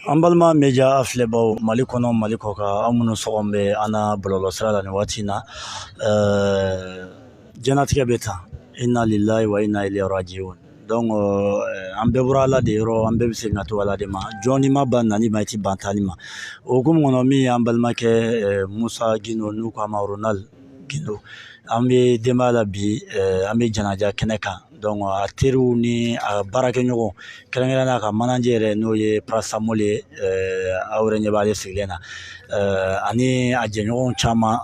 An balima media filɛbaw mali kɔnɔ mali kɔ kan aw minnu sɔgɔlen bɛ an na bɔlɔlɔsira la nin waati in na diɲɛnatigɛ bɛ tan inna lillahi wa inna ilayhi rajiun donc an bɛɛ bɔra ala de yɔrɔ an bɛɛ bɛ segin ka taa ala de ma jɔn n'i ma ban nali ma i ti ban taali ma o hukumu kɔnɔ min y'an balimakɛ musa gindo n'u k'a ma ronald gindo an bɛ denbaya la bi an bɛ janaja kɛnɛ kan donc a teriw ni a baarakɛɲɔgɔn kɛrɛnkɛrɛnnenya a ka manager yɛrɛ n'o ye parasamol ye aw yɛrɛ ɲɛ b'ale sigilen na ani a jɛɲɔgɔnw caman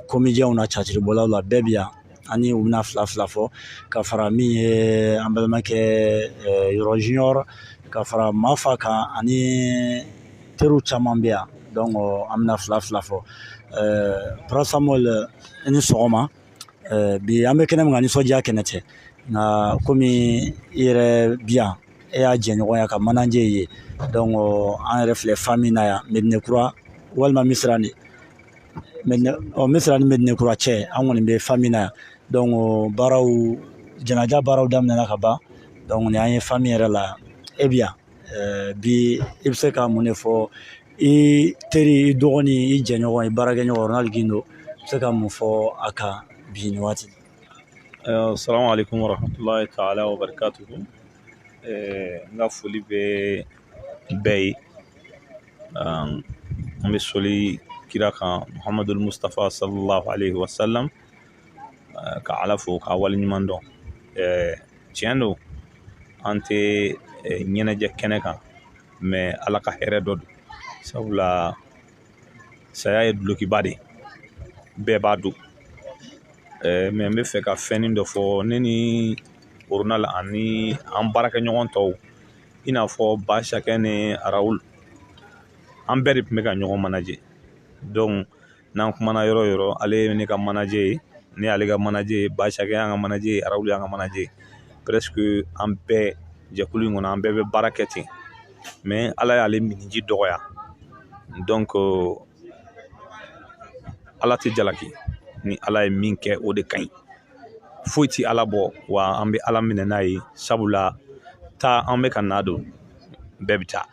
komijɛnw na catiribɔlaw la bɛɛ bi yan ani u bɛna fila fila fɔ ka fara min ye an balimakɛ yɔrɔ junior ka fara mafa kan ani teriw caman bɛ yan donc an bɛna fila fila fɔ parasamol i ni sɔgɔma bi an bɛ kɛnɛ min kan nisɔndiya kɛnɛ tɛ nka kɔmi i yɛrɛ bi yan e y'a jɛɲɔgɔn y'a ka manager ye donc an yɛrɛ filɛ famille na yan medine kura walima misira ni misira ni medine kura cɛ an kɔni bɛ famille na yan donc baaraw janaja baaraw daminɛna ka ban donc ni an ye famille yɛrɛ la e bɛ yan Eh, bi i bɛ se ka mun de fɔ i teri i dɔgɔnin i jɛɲɔgɔn i baarakɛɲɔgɔn Ronald Gindo i bɛ se ka mun fɔ a kan bi nin waati eh, Assalamu alaikum warahmatulahi taala wabarakatuhu eh, n ka foli bɛ bɛɛ ye an bɛ soli kira kan Muhamadul Mustafa sallallahu alaihi wasallam ka ala fo k'a waleɲuman dɔn tiɲɛ don an tɛ ɲɛnajɛ kɛnɛ kan mais ala ka hɛrɛ dɔ don sabula saya ye dulokiba de bɛɛ b'a don mais n bɛ fɛ ka fɛnnin dɔ fɔ ne ni ronald ani an baarakɛɲɔgɔn tɔw i n'a fɔ basakɛ ni raoul an bɛɛ de tun bɛ ka ɲɔgɔn manager n'an kumana yɔrɔ o yɔrɔ ale ye ne ka manager ye ne y'ale ka manager ye basakɛ y'an ka manager ye raoul y'an ka manager ye presque an bɛɛ jɛkulu in kɔnɔ an bɛɛ bɛ baara kɛ ten mais ala y'ale miniji dɔgɔya donc ala tɛ jalaki ni ala ye min kɛ o de ka ɲi foyi tɛ ala bɔ wa an bɛ ala minɛ n'a ye sabula taa an bɛ ka na don bɛɛ bɛ taa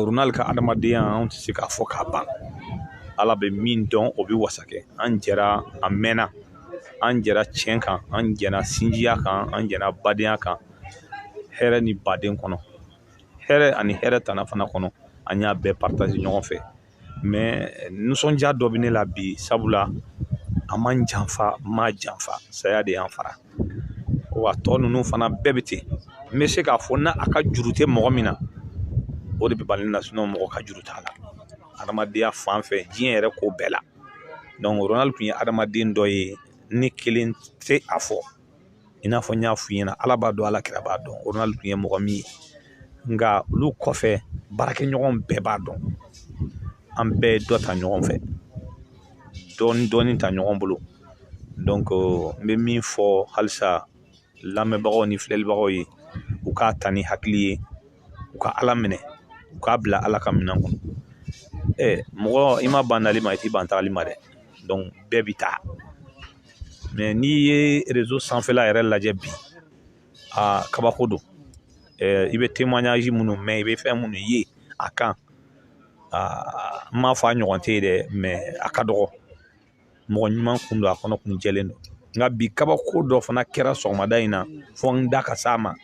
ronald ka adamadenya an tɛ se k'a fɔ k'a ban ala bɛ min dɔn o bɛ wasa kɛ an jɛra a mɛnna an jɛra tiɲɛ kan an jɛra sinjiya kan an jɛra badenya kan hɛrɛ ni baden kɔnɔ hɛrɛ ani hɛrɛ tana fana kɔnɔ an y'a bɛɛ partager ɲɔgɔn fɛ mais nisɔndiya dɔ bɛ ne la bi sabula a ma n janfa n m'a janfa saya de y'an fara wa tɔ ninnu fana bɛɛ bɛ ten n bɛ se k'a fɔ n'a ka juru tɛ mɔgɔ min na o de bɛ bali na sinon mɔgɔ ka juru t'a la adamadenya fan fɛ diɲɛ yɛrɛ ko bɛɛ la donc ronald tun ye adamaden dɔ ye ne kelen tɛ a fɔ i n'a fɔ n y'a f'u ɲɛna ala b'a dɔn ala kira b'a dɔn ronald tun ye mɔgɔ min ye nka olu kɔfɛ baarakɛɲɔgɔn bɛɛ b'a dɔn an bɛɛ ye dɔ ta ɲɔgɔn fɛ dɔɔnin ta ɲɔgɔn bolo donc n bɛ min fɔ halisa lamɛnbagaw ni filɛlibagaw ye u k'a ta ni hakili ye u ka ala minɛ u k'a bila ala ka minɛn kɔnɔ mɔgɔ i ma ban nali ma i t'i ban tagali ma dɛ donc bɛɛ bɛ taa mais n'i ye réseau sanfɛla yɛrɛ lajɛ bi aa kabako don i bɛ témoignage minnu mɛn i bɛ fɛn minnu ye a kan aa n m'a fɔ a ɲɔgɔn tɛ ye dɛ mais a ka dɔgɔ mɔgɔ ɲuman kun don a kɔnɔ kun jɛlen don nka bi kabako dɔ fana kɛra sɔgɔmada in na fo n da ka s'a ma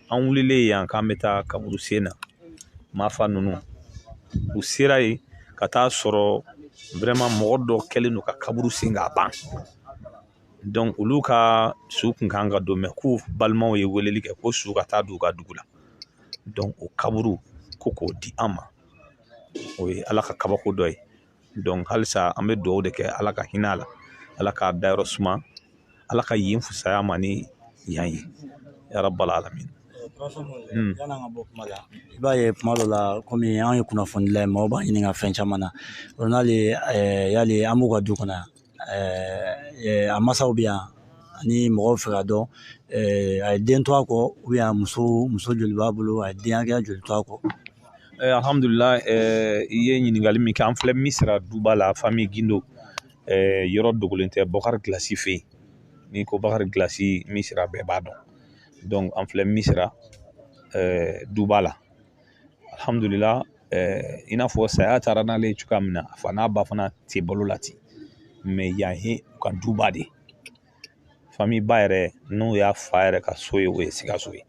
an wulilen yan k'an bɛ taa kaburu sen na mafa ninnu u sera yen ka taa sɔrɔ vraiment mɔgɔ dɔ kɛlen don ka kaburu sen k'a ban donc olu ka su kun kan ka don mais k'u balimaw ye weleli kɛ ko su ka taa don u ka dugu la donc o kaburu ko k'o di an ma o ye ala ka kabako dɔ ye halisa an bɛ dugawu de kɛ ala ka hinɛ a la ala k'a dayɔrɔ suma ala ka yen fusaya ma ni yan ye ya rabbal alamin i b'a ye kuma dɔ la kɔmi an ye kunnafonidila ye maaw b'an ɲininka fɛn caman na ronald yali an b'u ka du kɔnɔ yan ɛɛ a masaw bɛ yan ani mɔgɔw fɛ k'a dɔn a ye den to a kɔ ou bien muso joli b'a bolo a ye den hakɛya joli to a kɔ alihamdulila i ye ɲininkali min kɛ an filɛ misira duba la famille gindo yɔrɔ dogolen tɛ bɔkari gilasi fɛ yen n'i ko bɔkari gilasi misira bɛɛ b'a dɔn donc an filɛ misira duba la alhamdulila eh, i n'a fɔ saya taara n'ale ye cogoya min na a fa n'a ba fana tɛ balo la ten mais yan ye u ka duba de famille ba yɛrɛ n'o y'a fa yɛrɛ ka so ye o ye sikaso ye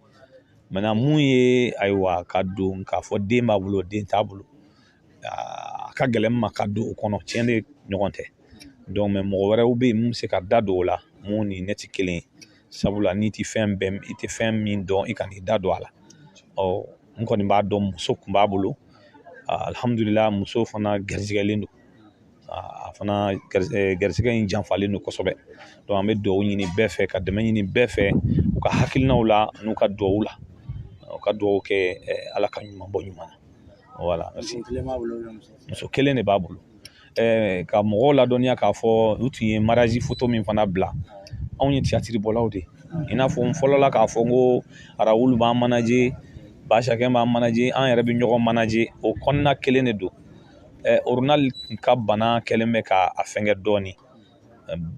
maintenant mun ye ayiwa ka don k'a fɔ den b'a bolo den t'a bolo a ka gɛlɛn n ma ka don o kɔnɔ tiɲɛ de ɲɔgɔn tɛ donc mais mɔgɔ wɛrɛw bɛ yen minnu bɛ se ka da don o la minnu ni ne tɛ kelen ye sabula n'i tɛ fɛn bɛɛ i tɛ fɛn min dɔn i kan'i da don a la ɔ n kɔni b'a dɔn muso kun b'a bolo alihamudulila muso fana garisigɛlen don a fana garisɛgɛ in janfalen don kosɛbɛ an bɛ dugawu ɲini bɛɛ fɛ ka dɛmɛ ɲini bɛɛ fɛ u ka hakilinaw la n'u ka dugawu la u ka dugawu kɛ ala ka ɲuman bɔ ɲuman na voilà muso kelen de b'a bolo ka mɔgɔw ladɔnniya k'a fɔ u tun ye marazi foto min fana bila anw ye tiyatiri bɔlaw de ye i n'a fɔ n fɔlɔla k'a fɔ n ko arawulu b'an manaje basakɛ b'an manaje an yɛrɛ bɛ ɲɔgɔn manaje o kɔnɔna kelen de don orunal ka bana kɛlen bɛ ka a fɛngɛ dɔɔni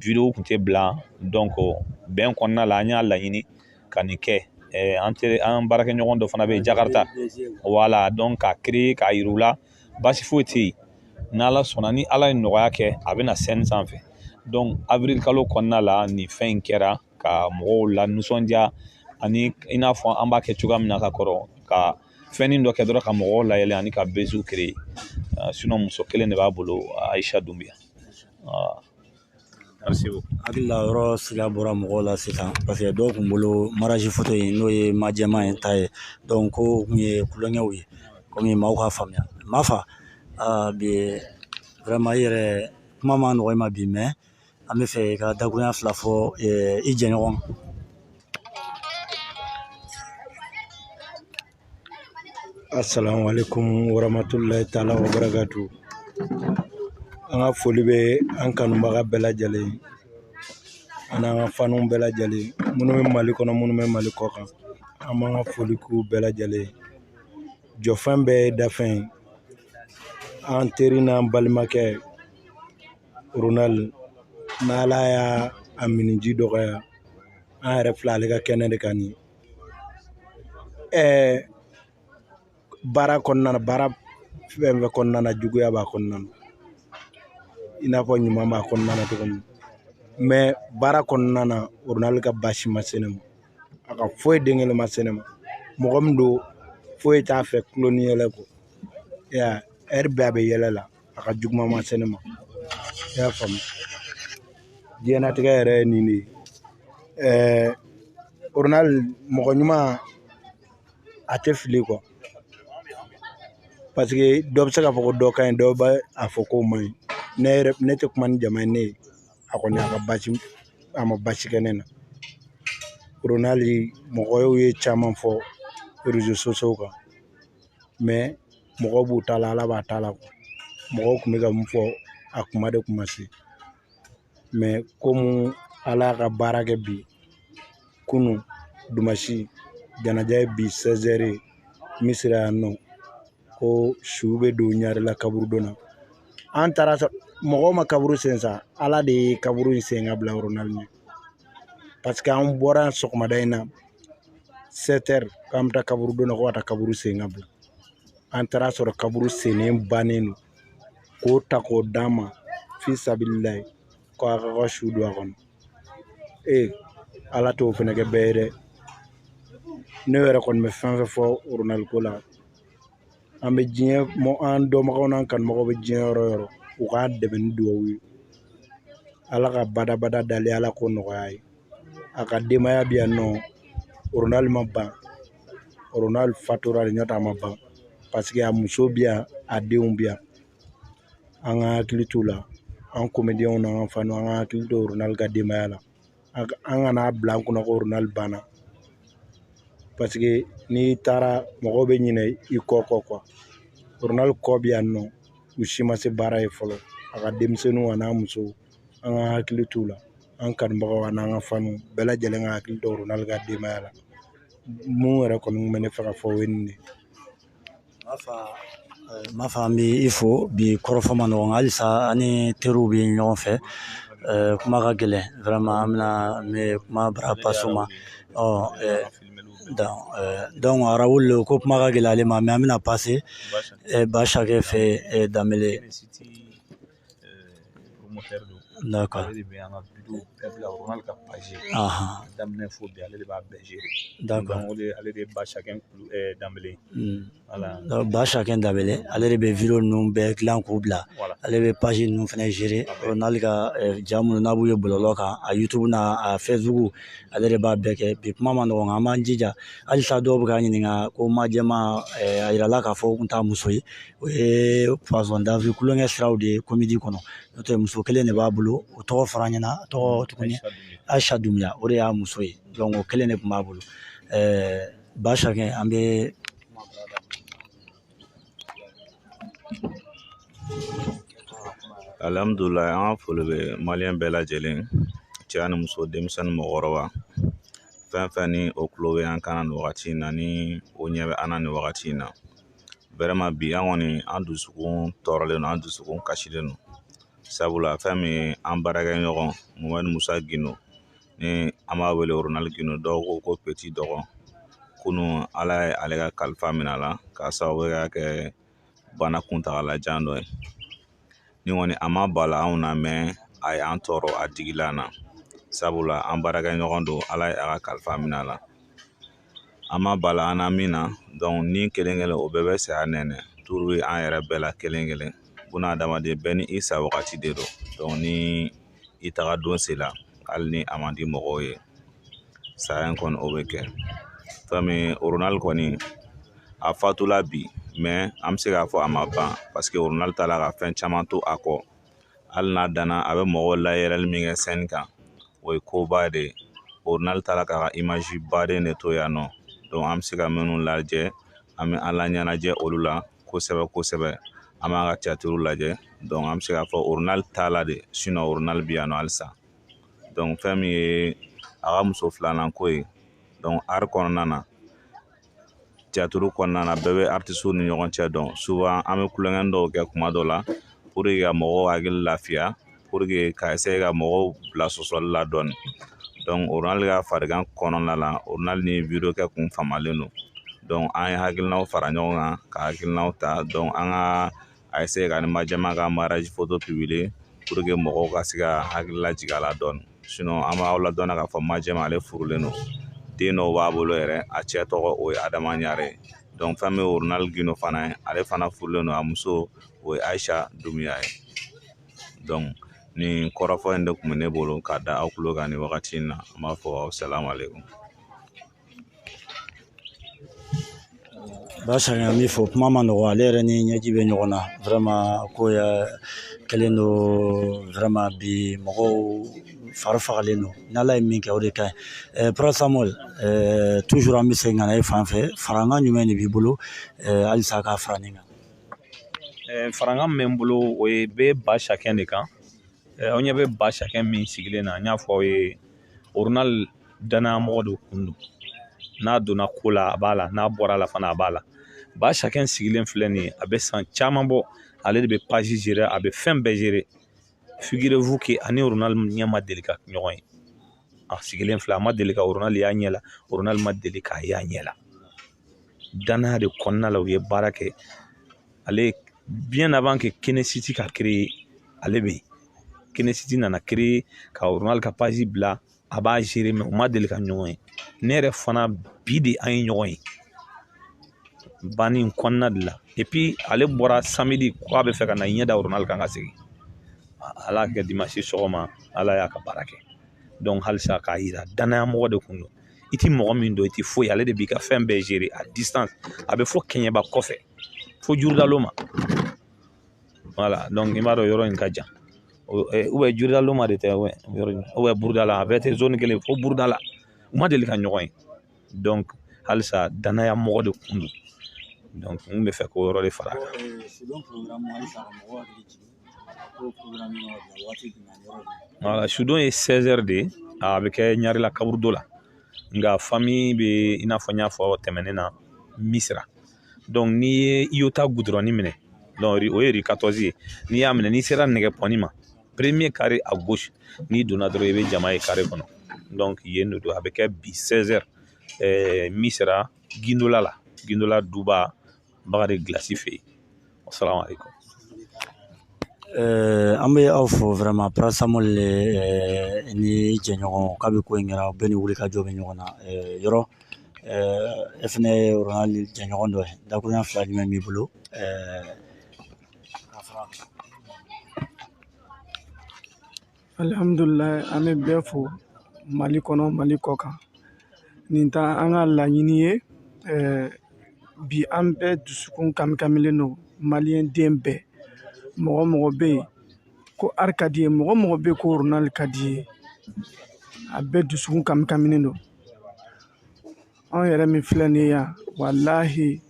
video kun tɛ bila donc bɛn kɔnɔna la an y'a laɲini ka nin kɛ an teri an baarakɛɲɔgɔn dɔ fana bɛ yen jakarita voilà donc k'a créer k'a yir'u la baasi foyi tɛ yen n'ala sɔnna ni ala ye nɔgɔya kɛ a bɛ na scène sanfɛ donc avril kalo kɔnɔna la nin fɛn in kɛra ka mɔgɔw la nisɔndiya ani i n'a fɔ an b'a kɛ cogoya min na ka kɔrɔ ka fɛnnin dɔ kɛ dɔrɔn ka mɔgɔw layɛlɛ ani ka beziw créer sinɔn muso kelen de b'a bolo ayisa dunbiya hakili la yɔrɔ sira bɔra mɔgɔw la sisan paseke dɔw kun bolo marazi foto in n'o ye majɛma in ta ye donc ko u kun ye kulonkɛw ye kɔmi maaw ka faamuya ma fa bi vraiment i yɛrɛ kuma ma nɔgɔ i ma bi mais an b'a fɛ i ka dakuruɲa fila fɔ i jɛɲɔgɔn assalamu alaikum warahmatullahi taala wabarakatu an ka foli bɛ an kanubaga bɛɛ lajɛlen ani an ka faniw bɛɛ lajɛlen minnu bɛ mali kɔnɔ minnu bɛ mali kɔkan an b'an ka foli k'u bɛɛ lajɛlen jɔfɛn bɛɛ ye dafɛn ye an teri n'an balimakɛ Ronal n'ala y'a a minniji dɔgɔya an yɛrɛ filɛ ale ka kɛnɛ de kan nin ɛɛ baara kɔnɔna na baara fɛn fɛn kɔnɔna na juguya b'a kɔnɔna na i n'a fɔ ɲuman b'a kɔnɔna na cogo min mais baara kɔnɔna na orunali ka baasi ma se ne ma a ka foyi den kelen ma se ne ma mɔgɔ min don foyi t'a fɛ kulon ni yɛlɛ kɔ heure bɛɛ a bɛ yɛlɛ la a ka juguman ma se ne ma i y'a faamu diɲɛnatigɛ yɛrɛ ye nin de ye ɛɛ oronal mɔgɔ ɲuman a tɛ fili quoi paseke dɔ bɛ se k'a fɔ ko dɔ ka ɲi dɔ bɛ a fɔ k'o man ɲi ne yɛrɛ ne tɛ kuma ni jama ye ne ye a kɔni a ka basi a ma basi kɛ ne na oronal mɔgɔw ye caman fɔ réseaux sociaux kan mais mɔgɔw b'u ta la ala b'a ta la mɔgɔw tun bɛ ka mun fɔ a kuma de kun ma se komi ala y'a ka baara kɛ bi kunun dumasi janaja ye bi misira yan nɔ ko su bɛ don ɲarela kaburudo na an taara mɔgɔw ma kaburu sen sa ala de ye kaburu in sen ka bila oronali ɲɛ paseke an bɔra sɔgɔmada in na sɛtɛri k'an bɛ taa kaburudo na ko ka taa kaburu sen ka bila an taara a sɔrɔ kaburu sennen bannen don k'o ta k'o d'an ma fi sabililayi ko a ka su don a kɔnɔ ee ala t'o fɛnɛ kɛ bɛɛ ye dɛ ne yɛrɛ kɔni bɛ fɛn fɛn fɔ oronali ko la an bɛ diɲɛ an dɔnbagaw n'an kanubagaw bɛ diɲɛ yɔrɔ o yɔrɔ u k'a dɛmɛ ni dugawu ye ala ka badabada dali ala k'o nɔgɔya a ye a ka denbaya bɛ yan nɔ oronali ma ban oronali fatura de n'o tɛ a ma ban paseke a muso bɛ yan a denw bɛ yan an ka hakili t'u la an komediyɛnw n'an ka faniw an ka hakili to oronali ka denbaya la an kan'a bila an kunna ko oronali banna paseke n'i taara mɔgɔw bɛ ɲinɛ i kɔ kɔ oronali kɔ bɛ yan nɔ u si ma se baara ye fɔlɔ a ka denmisɛnninw a n'a musow an ka hakili t'u la an kanubagaw ani an ka faniw bɛɛ lajɛlen ka hakili to oronali ka denbaya la mun yɛrɛ kɔni tun bɛ ne fɛ ka fɔ o ye nin de ye Mafa an bɛ i fo bi kɔrɔfɔ ma nɔgɔ halisa an ni teriw bɛ ɲɔgɔn fɛ kuma ka gɛlɛn vraiment an bɛna kuma bara pase u ma ɔ donc Raoul ko kuma ka gɛlɛn ale ma mɛ an bɛna pase basakɛ fɛ danbele D'accord. Ale de bɛ an ka wideyow bɛɛ bila o kɔnɔ ka paze daminɛ fo bi ale de b'a bɛɛ zere o de ale de ye basakɛ danbele basakɛ danbele ale de bɛ wideyo ninnu bɛɛ dilan k'u bila ale bɛ paze ninnu fana zere oronali ka ja minnu n'a b'u ye bɔlɔlɔ kan a YouTube n'a a Facebook ale de b'a bɛɛ kɛ bi kuma ma nɔgɔ nka an b'an jija halisa dɔw bɛ k'an ɲininka ko majɛma a yirala k'a fɔ u tun t'a muso ye o ye poisson d'avril tulonkɛ siraw de ye komedi kɔnɔ n'o tɛ muso kelen de b'a bolo o tɔgɔ fɔra an ɲɛna a tɔgɔ tuguni ayisa dunbuya o de y'a muso ye o kelen de tun b'a bolo basakɛ an bɛ alihamdulilayi an ka foli bɛ maliyɛn bɛɛ lajɛlen cɛ ani muso denmisɛnnin mɔgɔkɔrɔba fɛn fɛn ni o tulo bɛ an kan na nin wagati in na ni o ɲɛ bɛ an na nin wagati in na bi an kɔni an dusukun tɔɔrɔlen don an dusukun kasilen don sabula fɛn min an baarakɛ ɲɔgɔn mɔmɛdi musa gindo ni an b'a wele Ronald gindo dɔw ko peti dɔgɔ kunu ala ye ale ka kalifa minɛ a la k'a sababu ka kɛ bana kuntagalajan dɔ ye nin kɔni a ma bala anw na mais a y'an tɔɔrɔ a digila an na sabula an baarakɛ ɲɔgɔn don ala ye a ka kalifa minɛ a la a ma bala an na min na donc ni kelen kelen o bɛɛ bɛ saya nɛnɛ tour ye an yɛrɛ bɛɛ la kelen kelen buna adamaden bɛɛ ni i sa wagati de don donc ni i taga don sela hali ni a man di mɔgɔw ye saya in kɔni o bɛ kɛ fɛn min Ronald kɔni a fatula bi mais an bɛ se k'a fɔ a ma ban parce que Ronald taara ka fɛn caman to a kɔ hali n'a danna a bɛ mɔgɔw layɛlɛli min kɛ scène kan o ye koba de ye Ronald taara k'a ka image baden de to yan nɔ donc an bɛ se ka minnu lajɛ an bɛ an laɲɛnajɛ olu la kosɛbɛ kosɛbɛ an b'a ka théâtre lajɛ donc an bɛ se k'a fɔ Ronald taala de sinon Ronald bɛ yan nɔ halisa donc fɛn min ye a ka muso filanan ko ye donc art kɔnɔna na théâtre kɔnɔna na bɛɛ bɛ artistes ni ɲɔgɔn cɛ dɔn souvent an bɛ tulonkɛ dɔw kɛ tuma dɔ la pour que ka mɔgɔw hakili lafiya pour que ka essayer ka mɔgɔw bila sɔsɔli la dɔɔni donc Ronald ka farigan kɔnɔna la Ronald ni vidéo kɛ tun famalen don donc an ye hakilinaw fara ɲɔgɔn kan ka hakilinaw ta donc an ka a essayer k'a ni majɛma ka mariage photo publier pour que mɔgɔw ka se ka hakili lajigin a la dɔɔni sinon an b'aw ladɔnniya k'a fɔ majɛma ale furulen don den dɔw b'a bolo yɛrɛ a cɛ tɔgɔ o ye adama ɲare donc fɛn min ye Ronald gindo fana ye ale fana furulen don a muso o ye ayisa dunbiya ye donc nin kɔrɔfɔ in de tun bɛ ne bolo k'a da aw tulo kan nin wagati in na n b'a fɔ aw salamale ba sakɛ an b'i fo kuma ma nɔgɔ ale yɛrɛ ni ɲɛji bɛ ɲɔgɔn na vraiment ko ya kɛlen don vraiment bi mɔgɔw fari fagalen don n'ala ye min kɛ o de ka ɲi Prince Samuel toujours an bɛ segin ka na e fan fɛ farankan jumɛn de b'i bolo halisa k'a fara nin kan farankan min bɛ n bolo o ye bɛ ba sakɛ de kan aw ɲɛ bɛ ba sakɛ min sigilen na n y'a fɔ aw ye danaya mɔgɔ de tun don n'a donna ko la a b'a la n'a bɔra la fana a b'a la ba sakɛ sigilen filɛ nin ye a bɛ san caman bɔ ale de bɛ page gérer a bɛ fɛn bɛɛ gérer figurez-vous que a ni Ronald ɲɛ ma deli ka ɲɔgɔn ye a sigilen filɛ a ma deli ka Ronald y'a ɲɛ la Ronald ma deli k'a y'a ɲɛ la danaya de kɔnɔna la u ye baara kɛ ale bien avant que Kinesiti ka créer ale bɛ yen Kinesiti nana créer ka Ronald ka page bila a b'a gérer mɛ u ma deli ka ɲɔgɔn ye ne yɛrɛ fana bi de an ye ɲɔgɔn ye banni in kɔnɔna de la et puis ale bɔra samedi ko a bɛ fɛ ka na ɲɛ da ronald kan ka segin ala kɛ dimansi sɔgɔma ala y'a ka baara kɛ donc halisa k'a yira danaya mɔgɔ de kun don i ti mɔgɔ min dɔn i ti foyi ale de b'i ka fɛn bɛɛ gérer à distance a bɛ fo kɛɲɛba kɔfɛ fo jurudalo ma i b'a dɔn yɔrɔ in ka jan ou bien jurudalo ma de tɛ ou bien burudala a bɛɛ tɛ zone kelen fo burudala u ma deli ka ɲɔgɔn ye donc halisa danaya mɔgɔ de kun don donc n bɛ fɛ k'o yɔrɔ de fara a kan sudon ye seize heures de ye a bɛ kɛ ɲarela kaburudo la nka fami bɛ i n'a fɔ n y'a fɔ tɛmɛnen na misira n'i ye iota gudurɔn minɛ donc o ye rue quatorze ye n'i y'a minɛ n'i sera nɛgɛ pɔnni ma premier kare a gosi n'i donna dɔrɔn i bɛ jama ye kare kɔnɔ donc yen de don a bɛ kɛ bi seize heures misira gindola la gindola duba bakari gilasi fɛ yen assalamu alaikum eh, an bɛ aw fo vraiment parasamɔli eh, ni jɛɲɔgɔn kabi ko in kɛra bɛɛ ni wulikajɔ bɛ ɲɔgɔn na eh, yɔrɔ e fana ye ronald jɛɲɔgɔn dɔ ye dakurunya fila jumɛn b'i bolo alihamudulila an bɛ bɛɛ fo mali kɔnɔ mali kɔ kan nin tɛ an ka laɲini ye eh, bi an bɛɛ dusukun kamikamilen don maliyɛn den bɛɛ mɔgɔ mɔgɔ bɛ yen ko ari ka di ye mɔgɔ mɔgɔ bɛ yen ko ronald ka di ye a bɛɛ dusukun kamikaminen don anw yɛrɛ min filɛ nin ye yan walahi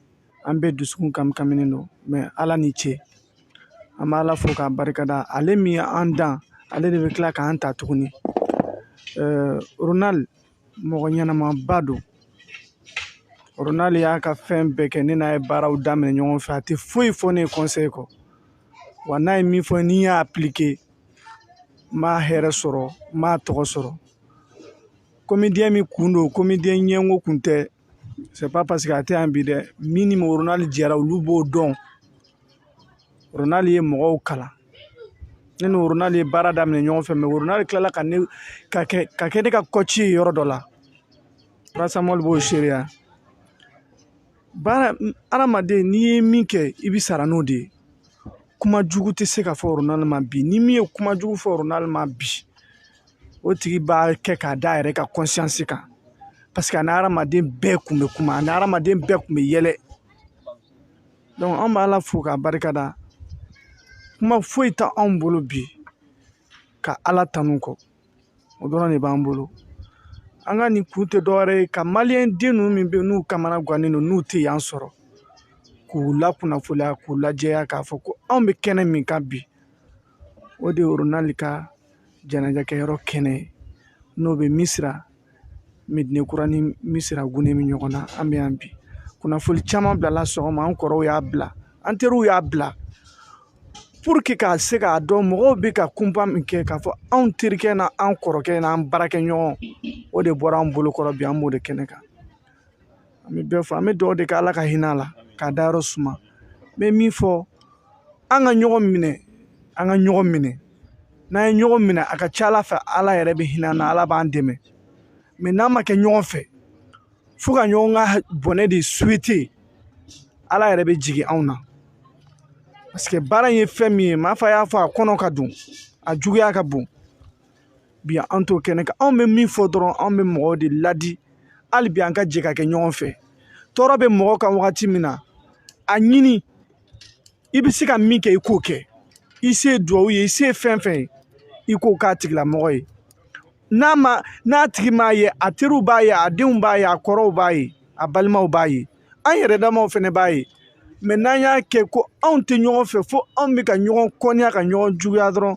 an bɛɛ dusukun kamikaminen don mɛ ala ni ce an bɛ ala fo k'a barikada ale min ye an dan ale de bɛ tila k'an ta tuguni ronal mɔgɔ ɲɛnamaba don ronal y'a ka fɛn bɛɛ kɛ ne n'a ye baaraw daminɛ ɲɔgɔn fɛ a tɛ foyi fɔ ne ye kɔnsɛyi kɔ wa n'a ye min fɔ ni n y'a apilike n b'a hɛrɛ sɔrɔ n b'a tɔgɔ sɔrɔ komidiyɛn min kun don komidiyɛn ɲɛngo kun tɛ c'est pas paseke a tɛ yan bi dɛ min ni ronali jɛra olu b'o dɔn ronali ye mɔgɔw kalan ne ni ronali ye baara daminɛ ɲɔgɔn fɛ mɛ ronali tilala ka kɛ ne ka kɔci ye yɔrɔ dɔ la parasamɔli b'o seereya baara adamaden n'i ye min kɛ i bi sara n'o de ye kuma jugu tɛ se ka fɔ ronali ma bi ni min ye kuma jugu fɔ ronali ma bi o tigi b'a kɛ k'a da a yɛrɛ ka kɔnsiyansi kan paseke a ni hadamaden bɛɛ kun bɛ kuma a ni hadamaden bɛɛ kun bɛ yɛlɛ an bɛ ala fo k'a barika da kuma foyi tɛ anw bolo bi ka ala tanu kɔ o dɔrɔn de b'an bolo an ka nin kun tɛ dɔwɛrɛ ye ka maliyɛn den ninnu min bɛ yen n'u kamana gannen don n'u tɛ yan sɔrɔ k'u lakunnafoniya k'u lajɛya k'a fɔ ko anw bɛ kɛnɛ min kan bi o de ye ronald ka janajakɛyɔrɔ kɛnɛ n'o bɛ misira medine kura ni misira gunnen bɛ ɲɔgɔn na an bɛ yan bi kunnafoni caman bilala sɔgɔma an kɔrɔw y'a bila an teriw y'a bila puruke k'a se k'a dɔn mɔgɔw bɛ ka kunpa min kɛ k'a fɔ anw terikɛ n'an kɔrɔkɛ n'an baarakɛɲɔgɔn o de bɔra an bolokɔrɔ bi an b'o de kɛnɛ kan an bɛ bɛɛ fo an bɛ dugawu de kɛ ala ka hinɛ a la k'a dayɔrɔ suma n bɛ min fɔ an ka ɲɔgɔn minɛ an ka ɲɔgɔn minɛ n'an ye ɲɔgɔn minɛ a ka ca ala fɛ ala yɛrɛ bɛ hinɛ an na ala b'an dɛmɛ mɛ n'an ma kɛ ɲɔgɔn fɛ fo ka ɲɔgɔn ka bɔnɛ de suwete ala yɛrɛ bɛ jigin anw na paseke baara in ye fɛn min ye maa fa y'a fɔ a kɔnɔ ka don a juguya ka bon bi an t'o kɛnɛ kan anw bɛ min fɔ dɔrɔn anw bɛ mɔgɔw de ladi hali bi an ka jɛ ka kɛ ɲɔgɔn fɛ tɔɔrɔ bɛ mɔgɔ kan wagati min na a ɲini i bɛ se ka min kɛ i k'o kɛ i se ye duwawu ye i se ye fɛn fɛn ye i k'o k'a tigilamɔgɔ ye n'a ma n'a tigi m'a ye a teriw b'a ye a denw b'a ye a kɔrɔw b'a ye a balimaw b'a ye an yɛrɛ damaw fɛnɛ b'a ye mɛ n'an y'a kɛ ko anw tɛ ɲɔgɔn fɛ fo anw bɛ ka ɲɔgɔn kɔniya ka ɲɔgɔn juguya dɔrɔn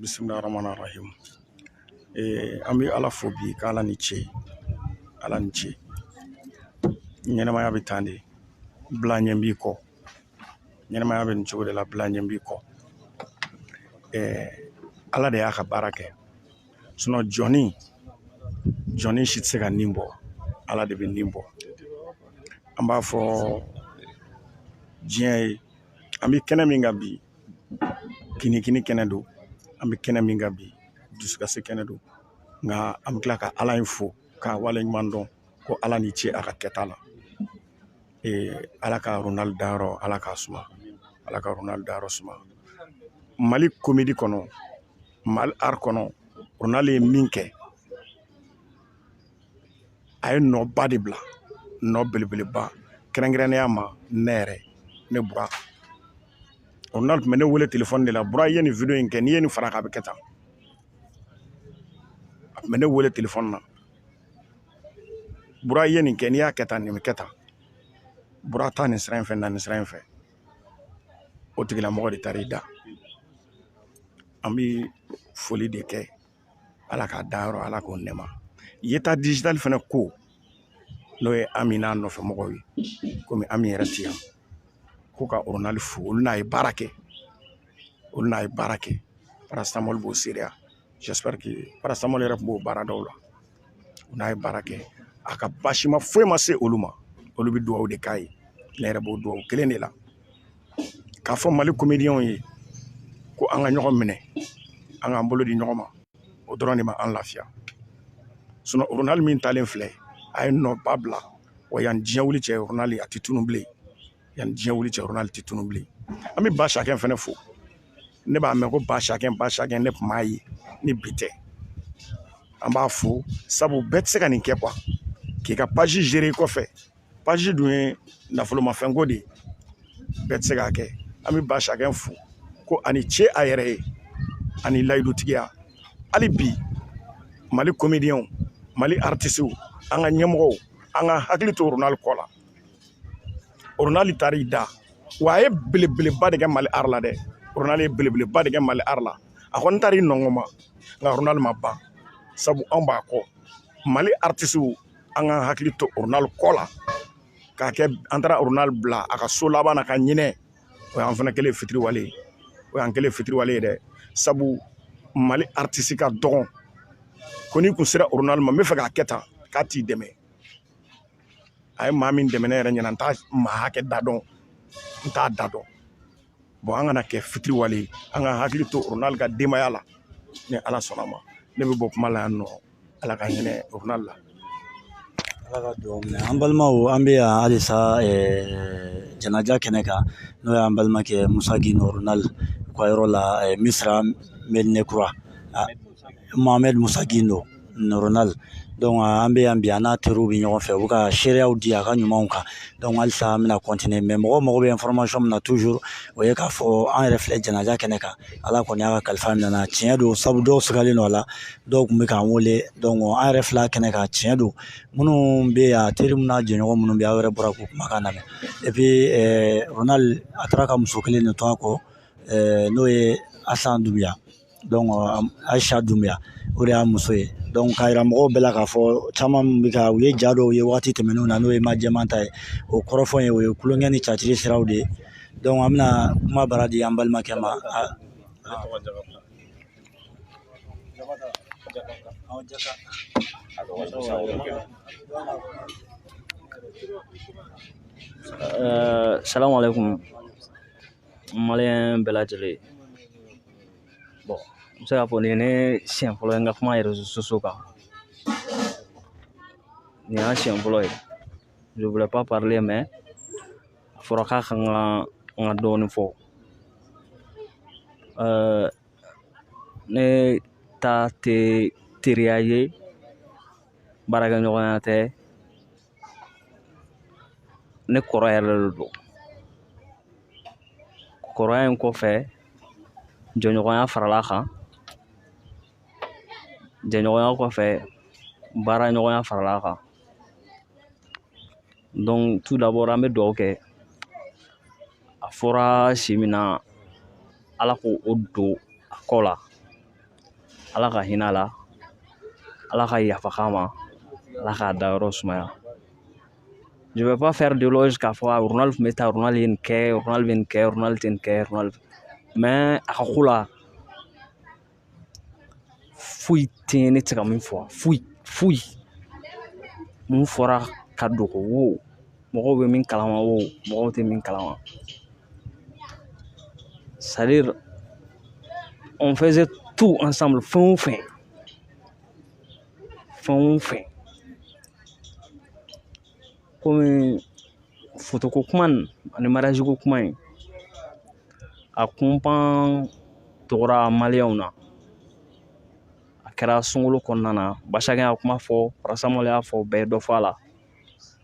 bisimilayi rahman rahim ee an bɛ ala fo bi k'ala ni ce ala ni ce ɲɛnɛmaya bɛ tan de bila ɲɛ b'i kɔ ɲɛnɛmaya bɛ nin cogo de la bila ɲɛ b'i kɔ ee ala de y'a ka baara kɛ sinɔ jɔni jɔni si tɛ se ka nin bɔ ala de bɛ nin bɔ an b'a fɔ diɲɛ ye an bɛ kɛnɛ min kan bi kinikini kɛnɛ don an bɛ kɛnɛ min kan bi dusukasi kɛnɛ don nka an bɛ tila ka ala in fo k'a waleɲuman dɔn ko ala ni ce a ka kɛta la ala ka ronald dayɔrɔ ala k'a suma ala ka ronald dayɔrɔ suma mali komedi kɔnɔ mali ar kɔnɔ ronald ye min kɛ a ye nɔba de bila nɔ belebeleba kɛrɛnkɛrɛnnenya ma ne yɛrɛ ne bura ronald tun bɛ ne wele telefɔni de la bura i ye nin wideyo in kɛ n'i ye nin fara a kan a bɛ kɛ tan a tun bɛ ne wele telefɔni na bura i ye nin kɛ n'i y'a kɛ tan nin bɛ kɛ tan bura taa nin sira in fɛ na nin sira in fɛ o tigilamɔgɔ de taara i da an bɛ foli de kɛ ala k'a dayɔrɔ ala k'o nɛma yeta dijitali fana ko n'o ye ami n'a nɔfɛ mɔgɔw ye komi ami yɛrɛ ti yan ko ka ronald fo olu n'a ye baara kɛ olu n'a ye baara kɛ paracétamol b'o seereya j'espère que paracétamol yɛrɛ tun b'o baara dɔw la u n'a ye baara kɛ a ka basima foyi ma se olu ma olu bɛ dugawu de k'a ye ne yɛrɛ b'o dugawu kelen de la k'a fɔ mali komidiyɛnw ye ko an ka ɲɔgɔn minɛ an k'an bolo di ɲɔgɔn ma o dɔrɔn de ma an lafiya sinon ronald min talen filɛ a ye nɔba bila wa yan diɲɛ wuli cɛ ronald a tɛ tunun bilen yanni diɲɛ wuli cɛ ronald tɛ tunun bilen an bɛ ba sakɛ fana fo ne b'a mɛn ko ba sakɛ ba sakɛ ne tun m'a ye ni bi tɛ an b'a fo sabu bɛɛ tɛ se ka nin kɛ quoi k'i ka page gérer i kɔfɛ page dun ye nafolomafɛnko de ye bɛɛ tɛ se k'a kɛ an bɛ ba sakɛ fo ko a ni ce a yɛrɛ ye a ni layidutigiya hali bi mali komidiyɛnw mali aritisiw an ka ɲɛmɔgɔw an ka hakili to ronald kɔ la Ronald taara i da wa a ye belebeleba de kɛ Mali art la dɛ Ronald ye belebeleba de kɛ Mali art la a kɔni taara i nɔngɔn ma nka Ronald ma ban sabu anw b'a kɔ Mali artisiw an k'an hakili to Ronald kɔ la k'a kɛ an taara Ronald bila a ka so laban na ka ɲinɛ o y'an fana kɛlen ye fitiriwale ye o y'an kɛlen ye fitiriwale ye dɛ sabu Mali artisi ka dɔgɔn ko n'i kun sera Ronald ma n b'a fɛ k'a kɛ tan k'a t'i dɛmɛ a ye maa min dɛmɛ ne yɛrɛ ɲɛna n t'a maa hakɛ da dɔn n t'a da dɔn bon an kana kɛ fitiriwale ye an ka hakili to ronald ka denbaya la ni ala sɔnna ma ne bɛ bɔ kuma la yan nɔ ala ka hinɛ ronald la ala ka dugawu minɛ an balimaw an bɛ yan halisa janaja kɛnɛ kan n'o y'an balimakɛ musa gindo ronald ka yɔrɔ la misira medina kura Mohamed Musa Gindo Ronald donc an bɛ yan bi an n'a teriw bɛ ɲɔgɔn fɛ u bɛ ka seereyaw di a ka ɲumanw kan donc halisa an bɛna continuer mais mɔgɔw mago bɛ information min na toujours o ye k'a fɔ an yɛrɛ filɛ janaja kɛnɛ kan ala kɔni y'a ka kalifa minɛ an na tiɲɛ don sabu dɔw sigalen don a la dɔw tun bɛ k'an wele donc an yɛrɛ filɛ a kɛnɛ kan tiɲɛ don minnu bɛ yan teri minnu n'a jɛɲɔgɔn minnu bɛ aw yɛrɛ bɔra k'u kumakan lamɛn et puis Ronald a taara ka muso kelen de to a kɔ n'o ye Asan Dunbiya Ayisa Dunbiya o de y'a muso ye donc k'a yira mɔgɔw bɛɛ la k'a fɔ caman bɛ ka u ye ja dɔw ye waati tɛmɛnenw na n'o ye maa jɛman ta ye o kɔrɔfɔ ye o ye tulonkɛ ni tiyatiri siraw de ye donc an bɛna kumabara di an balimakɛ ma maliyɛn bɛɛ lajɛlen bon n bɛ se k'a fɔ nin ye ne siɲɛ fɔlɔ ye n ka kuma réseaux sociaux kan nin y'a siɲɛ fɔlɔ ye je voulais pas parler mais a fɔra k'a ka kan n ka dɔɔnin fɔ ɛɛ ne ta tɛ teriya ye baarakɛɲɔgɔnya tɛ ne kɔrɔ yɛrɛ de don kɔrɔya in kɔfɛ jɛɲɔgɔnya faral'a kan jɛɲɔgɔnya kɔfɛ baaraɲɔgɔnya faral'a kan donc tout d'abord an bɛ dugawu kɛ a fɔra si min na ala k'o o don a kɔ la ala ka hinɛ a la ala ka yafa k'a ma ala k'a dayɔrɔ sumaya je vais pas faire d'éloge k'a fɔ a ronald tun bɛ tan ronald ye nin kɛ ronald bɛ nin kɛ ronald tɛ nin kɛ ronald mais a ka ko la foyi tɛ ne tɛ se ka min fɔ foyi foyi min fɔra ka dogo wo mɔgɔw bɛ min kalama wo mɔgɔw tɛ min kalama c'est-à-dire on faisait tout ensemble fɛn o fɛn fɛn o fɛn komi fotoko kuma nin ani mariage ko kuma in a kunpan tɔgɔra maliyɛnw na a kɛra sunkalo kɔnɔna na basakɛ y'a kuma fɔ paracétamol y'a fɔ bɛɛ ye dɔ fɔ a la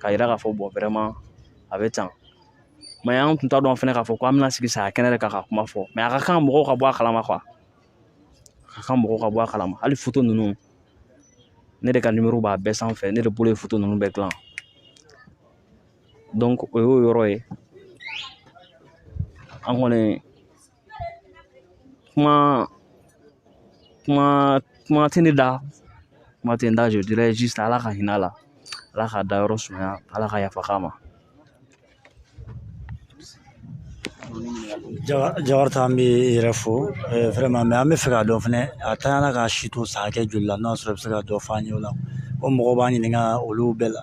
k'a yira k'a fɔ bon vraiment a bɛ tan mais an tun t'a dɔn fana k'a fɔ ko an bɛna sigi saya kɛnɛ de kan ka kuma fɔ mais a ka kan mɔgɔw ka bɔ a kalama a ka kan mɔgɔw ka bɔ a kalama hali foto ninnu ne de ka nimɔrɔ b'a bɛɛ sanfɛ ne de bolo ye foto ninnu bɛɛ dilan donc o y'o yɔrɔ ye an kɔni kuma kuma kuma tɛ ne da kuma tɛ n da je dirais juste ala ka hinɛ a la ala k'a dayɔrɔ sumaya ala ka yafa k'a ma jawari ta an bɛ yɛrɛ fo vraiment mais an bɛ fɛ k'a dɔn fɛnɛ a ntanyana k'a si to san hakɛ joli la n'a sɔrɔ i bɛ se ka dɔ f'an ye o la ko mɔgɔw b'an ɲininka olu bɛɛ la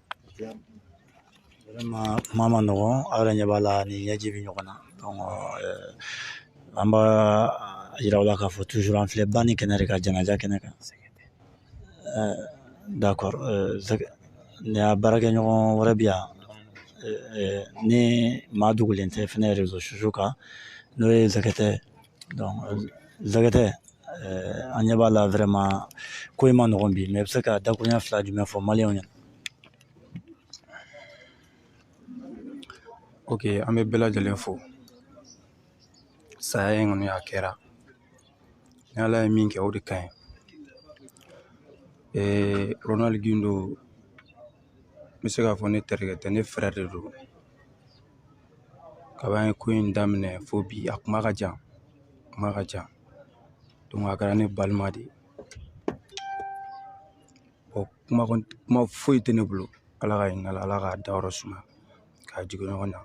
vraiment kuma man nɔgɔn aw yɛrɛ ɲɛ b'a la ni ɲɛji bɛ ɲɔgɔn na donc an b'a yira aw la k'a fɔ toujours an filɛ banni kɛnɛ de kan janaja kɛnɛ kan d'accord ni a baarakɛɲɔgɔn wɛrɛ bi yan ni maa dogolen tɛ fɛnɛ réseaux sociaux kan n'o ye zɛgɛtɛ zɛgɛtɛ an ɲɛ b'a la vraiment ko in ma nɔgɔn bi mais i bɛ se ka dakuruɲɛ fila jumɛn fɔ maliyɛnw ɲɛna ok an bɛ bɛɛ lajɛlen fo saya in kɔni a kɛra ni ala ye min kɛ o de ka ɲi ee ronald gindo n bɛ se k'a fɔ ne terikɛ tɛ ne frère de don kab'an ye ko in daminɛ fo bi a kuma ka jan a kuma ka jan donc a kɛra ne balima de ye bon kuma foyi tɛ ne bolo ala ka hin'a la ala k'a dayɔrɔ suma k'a jigin ɲɔgɔn na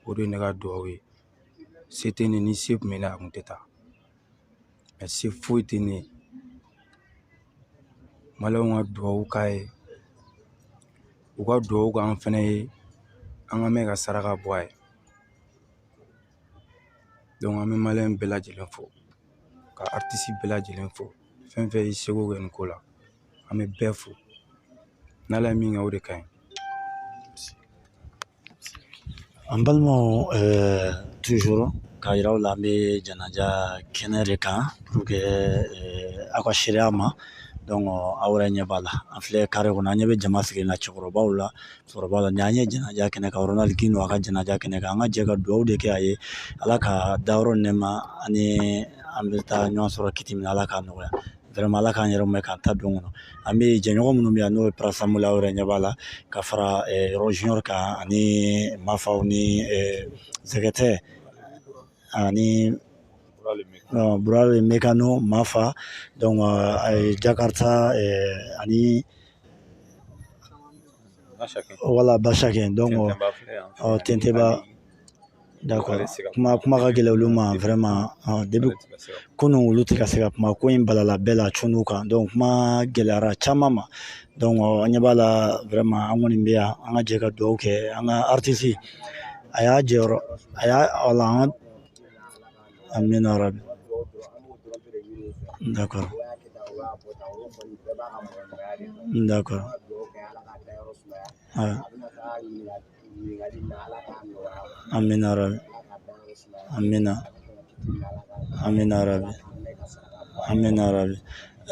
o de ye ne ka dugawu ye se tɛ ne ni se kun bɛ ne ye a kun tɛ taa mais se foyi tɛ ne ye maliyɛnw ka duwawu k'a ye u ka duwawu k'an fɛnɛ ye an ka mɛn ka saraka bɔ a ye donc an bɛ maliyɛn bɛɛ lajɛlen fo ka artiste bɛɛ lajɛlen fo fɛn fɛn y'i seko kɛ nin ko la an bɛ bɛɛ fo n'ala ye min kɛ o de ka ɲi An balimaw toujours k'a yira aw la an bɛ janaja kɛnɛ de kan pour que aw ka seereya ma donc aw yɛrɛ ɲɛ b'a la an filɛ carré kɔnɔ an ɲɛ bɛ jama sigilen na cɛkɔrɔbaw la musokɔrɔbaw la nin an ye janaja kɛnɛ kan Ronald Gindo a ka janaja kɛnɛ kan an ka jɛ ka dugawu de kɛ a ye ala k'a dayɔrɔ nɛɛma ani an bɛ taa ɲɔgɔn sɔrɔ kiti min na ala k'a nɔgɔya vraiment ala k'an yɛrɛ mɛn k'an ta don kɔnɔ an bɛ jɛɲɔgɔn minnu bɛ yan n'o ye Prasamol aw yɛrɛ ɲɛ b'a la ka fara yɔrɔ junior kan ani mafaw ni zɛgɛtɛ ani burale mekano mafa donc jakarta ani voilà basakɛ donc tenteba D'accord kuma ka gɛlɛn olu ma vraiment depuis kunun olu tɛ ka se ka kuma ko in balala bɛɛ la cunu kan donc kuma gɛlɛyara caman ma donc an ɲɛ b'a la vraiment an kɔni bɛ yan an ka jɛ ka dugawu kɛ an ka artiste a y'a jɔyɔrɔ a y'a wala an ka amina rabi d'accord d'accord amina rabi amina amina rabi amina rabi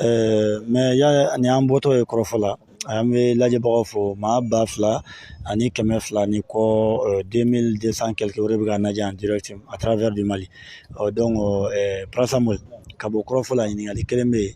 eh, mais yanni an bɔtɔ ye kɔrɔfɔ la an bɛ lajɛbagaw fo maa ba fila ani kɛmɛ fila ni kɔ eh, deux mille deux cent quelque o de bɛ k'an lajɛ en direct à travers du Mali ɔ donc eh, Prasamol ka bɔ kɔrɔfɔ la ɲininkali kelen bɛ yen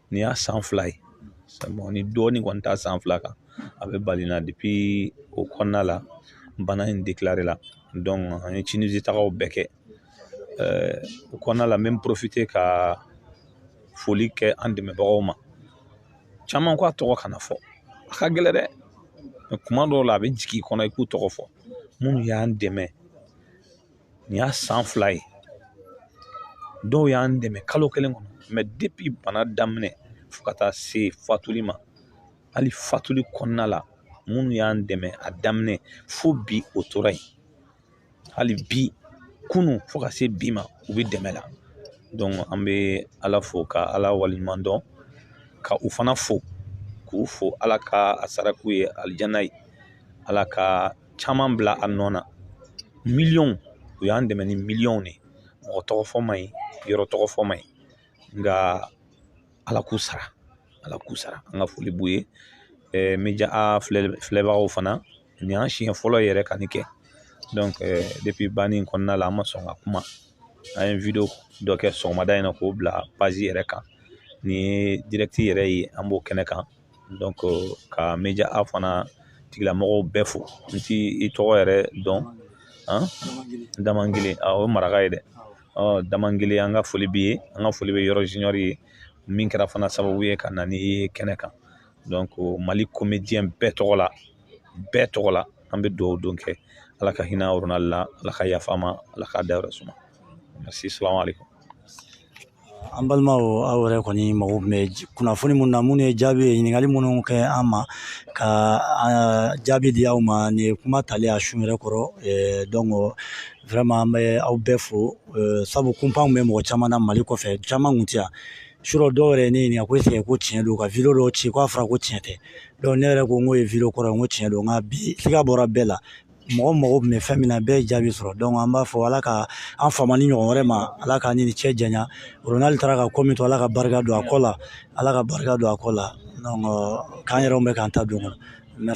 nin y'a san fila ye bon ni dɔɔnin kɔni t'a san fila kan a bɛ bali na depi o kɔnɔna la bana in deklarela donc an ye tinisi tagaw bɛɛ kɛ o kɔnɔna la n bɛ n porofite ka foli kɛ an dɛmɛbagaw ma caman ko a tɔgɔ kana fɔ a ka gɛlɛn dɛ mɛ kuma dɔw la a bɛ jigin i kɔnɔ i k'u tɔgɔ fɔ minnu y'an dɛmɛ nin y'a san fila ye dɔw y'an dɛmɛ kalo kelen kɔnɔ mɛ depi bana daminɛ fo ka taa se fatuli ma hali fatuli kɔnɔna la minnu y'an dɛmɛ a daminɛ fo bi o tora yen hali bi kunu fo ka se bi ma u bɛ dɛmɛ la donc an bɛ ala fo ka ala waleɲuman dɔn ka u fana fo k'u fo ala ka a sara k'u ye alijana ye ala ka caman bila a nɔ na miliyɔn u y'an dɛmɛ ni miliyɔnw de ye mɔgɔ tɔgɔ fɔ man ɲi yɔrɔ tɔgɔ fɔ man ɲi nka ala k'u sara ala k'u sara an ka foli b'u ye media filɛbagaw fana nin y'an siɲɛ fɔlɔ yɛrɛ ka nin kɛ donc depi banni in kɔnɔna la an ma sɔn ka kuma an ye wideyo dɔ kɛ sɔgɔmada in na k'o bila page yɛrɛ kan nin ye direct yɛrɛ ye an b'o kɛnɛ kan ka media fana tigilamɔgɔw bɛɛ fo n ti i tɔgɔ yɛrɛ dɔn damangile o ye maraka ye dɛ damangile an ka foli b'i ye an ka foli bɛ yɔrɔ junior ye min kɛra fana sababu ye ka na ni kɛnɛ kan donc mali comédien bɛɛ tɔgɔ la bɛɛ tɔgɔ la an bɛ dugawu don kɛ ala ka hinɛ ronald la ala ka yafa ma ala ka dayɔrɔ suma merci salamu alaikum an balimaw aw yɛrɛ kɔni mago bɛ kunnafoni minnu na minnu ye jaabi ye ɲininkali minnu kɛ an ma ka jaabi di aw ma nin ye kuma talen a su yɛrɛ kɔrɔ donc vraiment an bɛ aw bɛɛ fo sabu kunpanw bɛ mɔgɔ caman na mali kɔfɛ caman kun tɛ yan surɔ dɔw yɛrɛ ne ɲininka ko eseke ko tiɲɛ don ka video dɔw ci k'a fɔra ko tiɲɛ tɛ donc ne yɛrɛ ko n k'o ye video kɔrɔ ye n ko tiɲɛ don nka bi siga bɔra bɛɛ la mɔgɔ mago tun bɛ fɛn min na bɛɛ ye jaabi sɔrɔ donc an b'a fɔ ala ka an fama nin ɲɔgɔn wɛrɛ ma ala k'an ni nin cɛ janya ronald taara ka ko min to ala ka barika don a kɔ la ala ka barika don a kɔ la donc k'an yɛrɛ bɛ k'an ta don kɔnɔ